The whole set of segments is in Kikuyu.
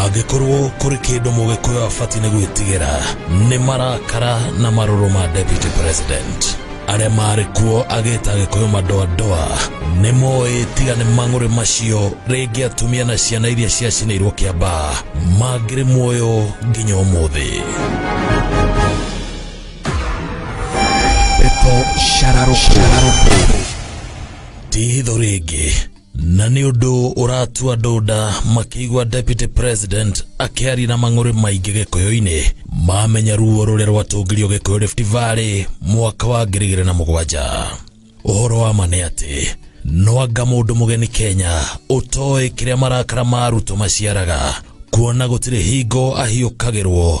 Angĩkorwo kũrĩ kĩndũ mũgĩkũyũ abatiĩ nĩ gwĩtigĩra nĩ marakara na marũrũ ma deputy president arĩa marĩ kuo agĩta agĩkũyũ madoadoa nĩ moĩ tiga nĩ mang'ũrĩ macio rĩngĩ atumia na ciana iria ciacinĩirwo kĩamba mangĩrĩ muoyo nginya ũmũthĩ pepo shararũkũ tihitho rĩngĩ na nĩ ũndũ ũratua andũ nda makĩigua deputy president akĩaria na mang'ũrĩ maingĩ gĩkũyũ-inĩ mamenya ruo rũrĩa rwatũngirio gĩkũyũ Rift Valley mwaka wa ngiri igĩrĩ na mũgwanja ũhoro wa ma nĩ atĩ nwanga mũndũ mũgeni Kenya ũtoĩ kĩrĩa marakara ma Ruto maciaraga kuona gũtirĩ hingo ahiũkagĩrwo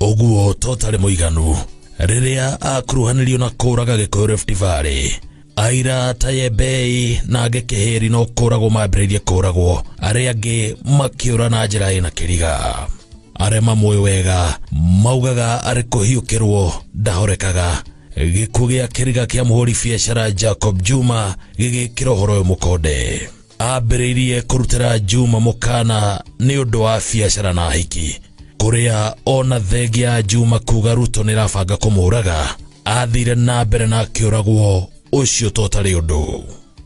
ũguo to ũtarĩ mũiganu rĩrĩa akuruhanirio na kũraga gĩkũyũ Rift Valley aira tayebei na angĩ kĩhĩri no kũragwo mambĩrĩirie kũragwo arĩa angĩ makĩũra na njĩra ĩna kĩriga arĩa mamũĩ wega maugaga arĩ kũhiũkĩrwo ndahorekaga gĩkuũ gĩa kĩriga kĩa mũhũri biacara Jacob Juma gĩgĩkĩra ũhoro ũyũ mũkonde ambĩrĩirie kũrutĩra Juma mũkana nĩ ũndũ wa biacara na hiki kũrĩa ona thenge ya Juma kuga Ruto nĩ rabanga kũmũraga athire na mbere na akĩũragwo ũcio to tarĩ ũndũ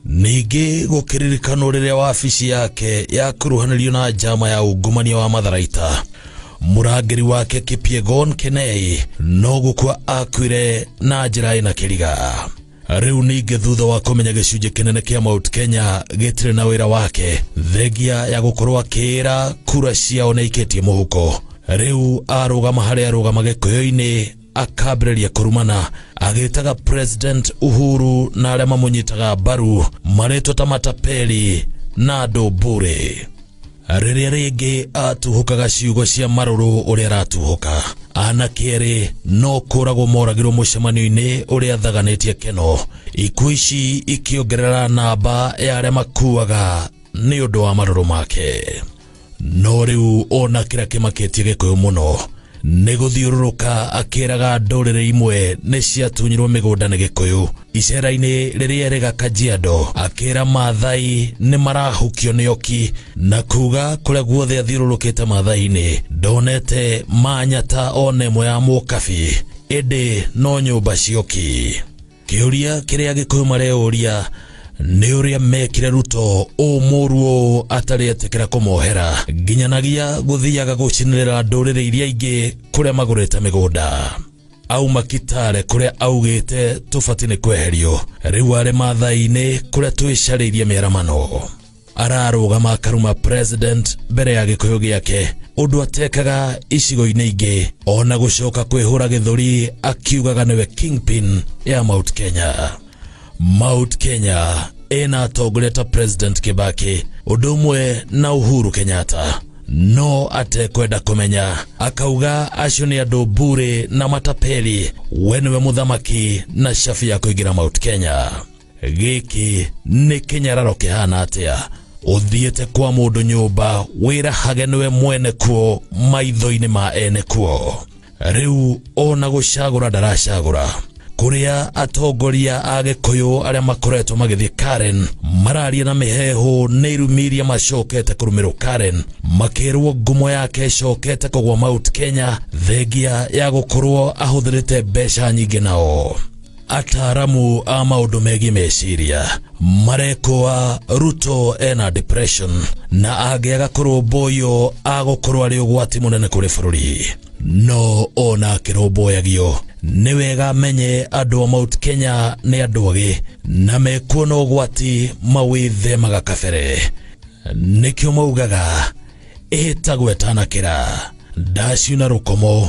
ningĩ gũkĩririkanwo rĩrĩa wabici yake yakuruhanĩrio na njama ya ungumania wa matharaita mũrangĩri wake Kipyegon Kenei no gũkua akuire na njĩra ĩna kĩriga rĩu ningĩ thutha wa kũmenya gĩcunjĩ kĩnene kĩa Mount Kenya gĩtirĩ na wĩra wake thengia ya gũkorwo akĩĩra kura ciao nĩaikĩtie mũhuko rĩu arũgama harĩa arũgama gĩkũyũ-inĩ akambĩrĩria kũrumana agĩtaga president uhuru na arĩa mamũnyitaga mbaru marĩtwo ta matapeli na andũ mbũrĩ rĩrĩa rĩngĩ atuhũkaga ciugo cia marũrũ ũrĩa aratuhũka anake erĩ no kũragwo moragirwo mũcemanio-inĩ ũrĩa athaganĩtie keno ikuũ ici ikĩongerera namba ya arĩa makuaga nĩ ũndũ wa marũrũ make no rĩu ona kĩrĩa kĩmakĩtie gĩkũyũ mũno nĩ gũthiũrũrũka akĩraga ndũrĩrĩ imwe nĩ ciatunyirwo mĩgũnda nĩ gĩkũyũ icera-inĩ rĩrĩa erĩ ga kajiado akĩra maathai nĩ marahukio nĩ oki na kuga kũrĩa guothe athiũrũrũkĩte maathai-inĩ ndonete manyata ona ĩmwe ya mũkabi ĩndĩ no nyũmba cioki Kĩũria kĩrĩa Gĩkũyũ mareyũria nĩ ũrĩa mekire Ruto ũũ mũũru ũũ atarĩ etĩkĩra kũmohera nginyanagia gũthiaga gũcinĩrĩra ndũrĩrĩ iria ingĩ kũrĩa magũrĩte mĩgũnda auma Kitale kũrĩa augĩte tũbati nĩ kweherio rĩu arĩ Maathai-inĩ kũrĩa twĩcarĩirie mĩaramano ararũgama akaruma president mbere ya gĩkũyũ gĩake ũndũ atekaga icigo-inĩ ingĩ ona gũcoka kwĩhũra gĩthũri akiugaga nĩwe kingpin ya mount kenya mount kenya ĩna atongoria ta president kibaki ũndũ ũmwe na uhuru kenyatta no atekwenda kũmenya akauga acio nĩ andũ mbure na matapeli we nĩwe mũthamaki na shabi ya kũingĩra mount kenya gĩkĩ nĩ kĩnyararo kĩhana atĩa ũthiĩte kwa mũndũ nyũmba wĩrahage nĩwe mwene kuo maitho-inĩ ma ene kuo rĩu ona gũcagũra ndaracagũra kũrĩa atongoria a gĩkũyũ arĩa makoretwo magĩthiĩ karen mararia na mĩheehũ nĩ irumi iria macokete kũrũmĩrwo karen makĩrwo ngumo yake ĩcokete kũgwa mount kenya thengia ya gũkorwo ahũthĩrĩte mbeca nyingĩ nao ataaramu a maũndũ megiĩ meciria marekũa ruto ena depression na angĩaga kũrũmbũywo agũkorwo arĩ ũgwati mũnene kũrĩ bũrũri no ona akĩrũmbũyagio nĩ wega amenye andũ a mount kenya nĩ andũ agĩ na mekuona ũgwati mawĩthemaga kabere nĩkĩo maugaga ĩhĩtagwo ĩtanakĩra ndaciuna rũkomo